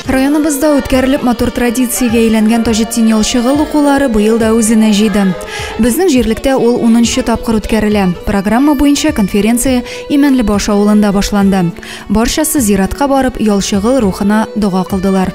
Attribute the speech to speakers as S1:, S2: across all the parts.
S1: Районыбызда үткәрелеп матур традициягә әйләнгән Таҗетдин ялчыгыл укулары быел да үзенә җыйды. Безнең җирлектә ул 10 тапкыр үткәрелә. Программа буенча конференция Имәнлебаш авылында башланды. Барчасы зиратка барып, ялчыгыл рухына дога кылдылар.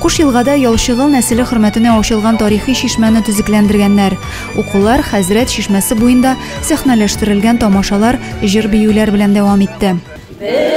S1: Куш елгада Ялчыгыл нәселе хөрмәтенә ачылган тарихи чишмәне төзекләндергәннәр. Укулар Хәзрәт чишмәсе буенда сәхнәләштерелгән тамашалар җыр-биюләр белән дәвам итте. Бер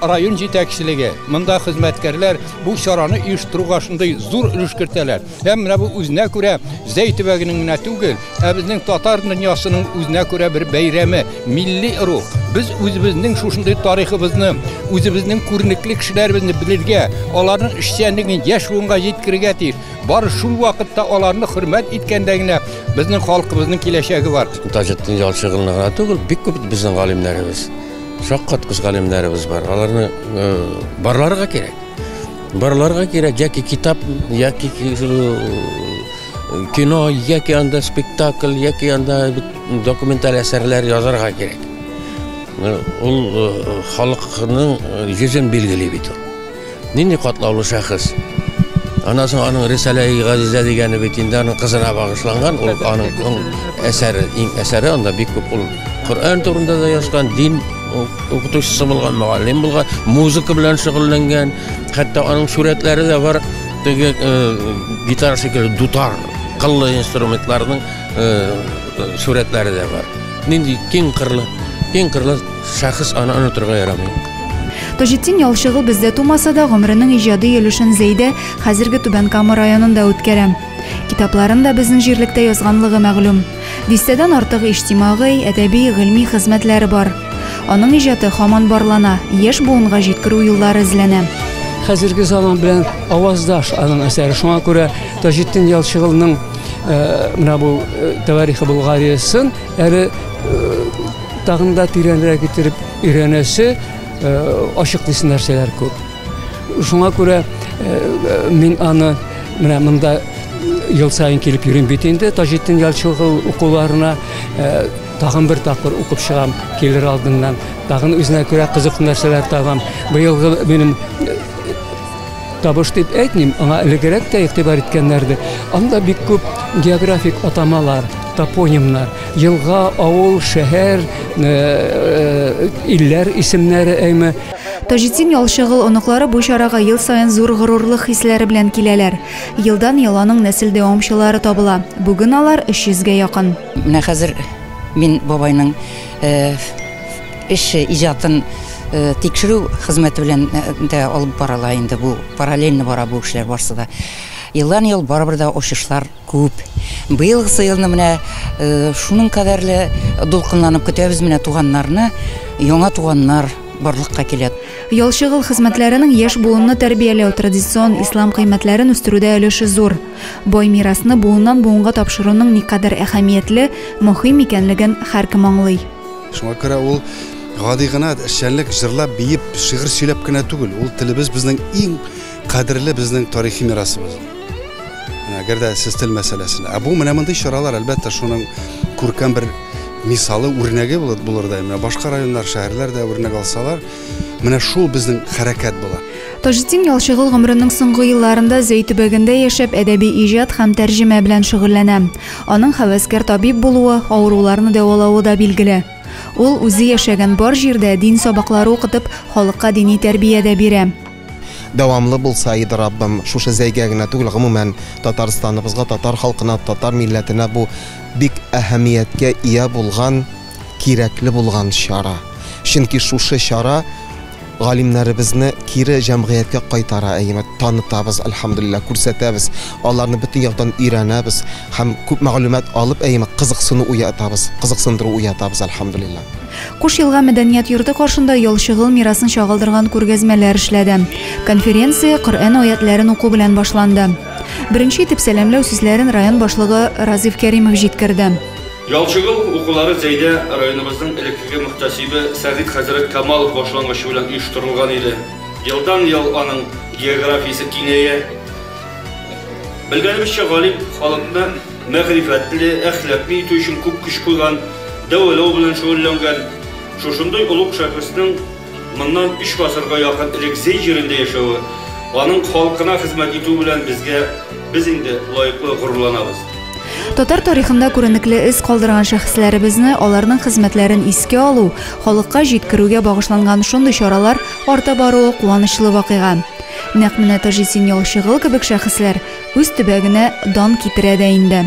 S1: Район җитәкчелеге,
S2: монда хезмәткәрләр бу чараны оештыруга шундый зур өлеш кертәләр. Һәм менә бу үзенә күрә Зәй төбәгенең генә түгел, ә безнең татар дөньясының үзенә күрә бер бәйрәме, милли рух. Без үзебезнең шушындый тарихыбызны, үзебезнең күренекле кешеләребезне белергә, аларның эшчәнлеген яшь буынга җиткерергә тиеш. Бары шул вакытта аларны хөрмәт иткәндә генә безнең халкыбызның киләчәге бар. Таҗетдин Ялчыгынны
S3: гына түгел, бик күп безнең галимнәребез. Шаккаткыч галимнәребез бар. Аларны э, барларга кирәк. Барларга кирәк яки китап, яки э, кино, яки анда спектакль, яки анда документаль әсәрләр язарга кирәк. Ул э, халыкның йөзен билгели бит ул. Нинди катлаулы шәхес! Аннан соң аның Рисалә-и Газизә дигәне бит инде аның кызына багышланган, ул аның әсәре, иң әсәре анда бик күп ул. Коръән турында да язган, дин укытучысы булган, мөгаллим булган, музыка белән шөгыльләнгән. Хәтта аның сурәтләре дә бар. Теге гитара шикелле дутар, кыллы инструментларның сурәтләре дә бар. Нинди киң кырлы, киң кырлы шәхес аны онытырга ярамый. Таҗетдин
S1: Ялчыгы бездә тумаса да, гомеренең иҗади өлешен Зәйдә, хәзерге Түбән Кама районында үткәрә. Китапларын да безнең җирлектә язганлыгы мәгълүм. Дистәдән артык иҗтимагый, әдәби, гыйльми хезмәтләре бар. Аның иҗаты һаман барлана, яшь буынга җиткерү юллары эзләнә. Хәзерге
S4: заман белән аваздаш аның әсәре, шуңа күрә Таҗетдин Ялчыгылның менә бу Тәварихы Булгариясын әле тагын да тирәнрәк итеп өйрәнәсе, ачыклыйсы нәрсәләр күп. Шуңа күрә мин аны менә монда ел саен килеп йөрим бит инде Таҗетдин Ялчыгыл укуларына тагын бер тапкыр укып чыгам килер алдыннан. Тагын үзенә күрә кызыклы нәрсәләр табам. Быелгы минем Табыш дип әйтмим, аңа элегрәк тә игътибар иткәннәр иде. Анда бик күп географик атамалар, топонимнар, елга, авыл, шәһәр, э, э, илләр исемнәре әйме. Таҗетдин
S1: Ялчыгыл оныклары бу чарага ел саен зур горурлык хисләре белән киләләр. Елдан-ел аның нәсел дәвамчылары табыла. Бүген алар 300 гә якын. Менә хәзер
S5: мин бабайның э, Эш иҗатын тикшерү хезмәте белән дә алып барыла инде бу, параллельно бара бу эшләр барсы да. Елдан-ел барыбер дә очышлар күп. Быелгысы елны менә шуның кадәрле дулкынланып көтәбез менә туганнарны, яңа туганнар барлыкка килә. Ял-чыгыл
S1: хезмәтләренең яшь буынны тәрбияләү, традицион ислам кыйммәтләрен үстерүдә өлеше зур. Бай мирасны буыннан-буынга тапшыруның никадәр әһәмиятле, мөһим икәнлеген һәркем аңлый. Шуңа күрә ул
S6: гади гына эшчәнлек җырлап, биеп, шигырь сөйләп кенә түгел, ул телебез безнең иң кадерле безнең тарихи мирасыбыз. Әгәр дә сез тел мәсьәләсенә. Ә бу менә мондый чаралар, әлбәттә, шуның күркәм бер мисалы, үрнәге булыр да. Менә башка районнар, шәһәрләр дә үрнәк алсалар, менә шул безнең хәрәкәт була. Таҗетдин Ялчыгыл
S1: гомеренең соңгы елларында Зәй төбәгендә яшәп, әдәби иҗат һәм тәрҗемә белән шөгыльләнә. Аның һәвәскәр табиб булуы, авыруларны дәвалавы да билгеле. Ул, үзе яшәгән бар җирдә дин сабаклары укытып, халыкка дини тәрбия дә бирә. Дәвамлы
S7: булса иде, Раббым, шушы Зәйгә генә түгел, гомумән, Татарстаныбызга, татар халкына, татар милләтенә бу бик әһәмияткә ия булган, кирәкле булган чара. Чөнки шушы чара галимнәребезне кире җәмгыятькә кайтара, әйеме, танытабыз, әлхәмдулиллаһ, күрсәтәбез, аларны бөтен яктан өйрәнәбез һәм күп мәгълүмат алып, әйеме, кызыксыну уятабыз, кызыксындыру уятабыз, әлхәмдулиллаһ. Куш Елга
S1: мәдәният йорты каршында ялчыгыл мирасын чагылдырган күргәзмәләр эшләде. Конференция Коръән аятьләрен уку белән башланды. Беренче итеп сәламләү сүзләрен район башлыгы Разыйф Кәримов җиткерде. Ялчыгыл
S8: укулары Зәйдә районыбызның элеккеге мөхтәсибе Сәгыйть хәзрәт Камалов башлангычы белән оештырылган иде. Елдан-ел аның географиясе киңәя. Белгәнебезчә, галим халыкны мәгърифәтле, әхлаклы итү өчен күп көч куйган, дәвалау белән шөгыльләнгән. Шушындый олуг шәхеснең. Моннан өч гасырга якын элек Зәй җирендә яшәве, аның халкына хезмәт итүе белән безгә, без инде лаеклы горурланабыз. Татар
S1: тарихында күренекле эз калдырган шәхесләребезне, аларның хезмәтләрен искә алу, халыкка җиткерүгә багышланган шундый чаралар арта баруы куанычлы вакыйга. Нәкъ менә Таҗетдин Ялчыгыл кебек шәхесләр үз төбәгенә дан китерә дә инде.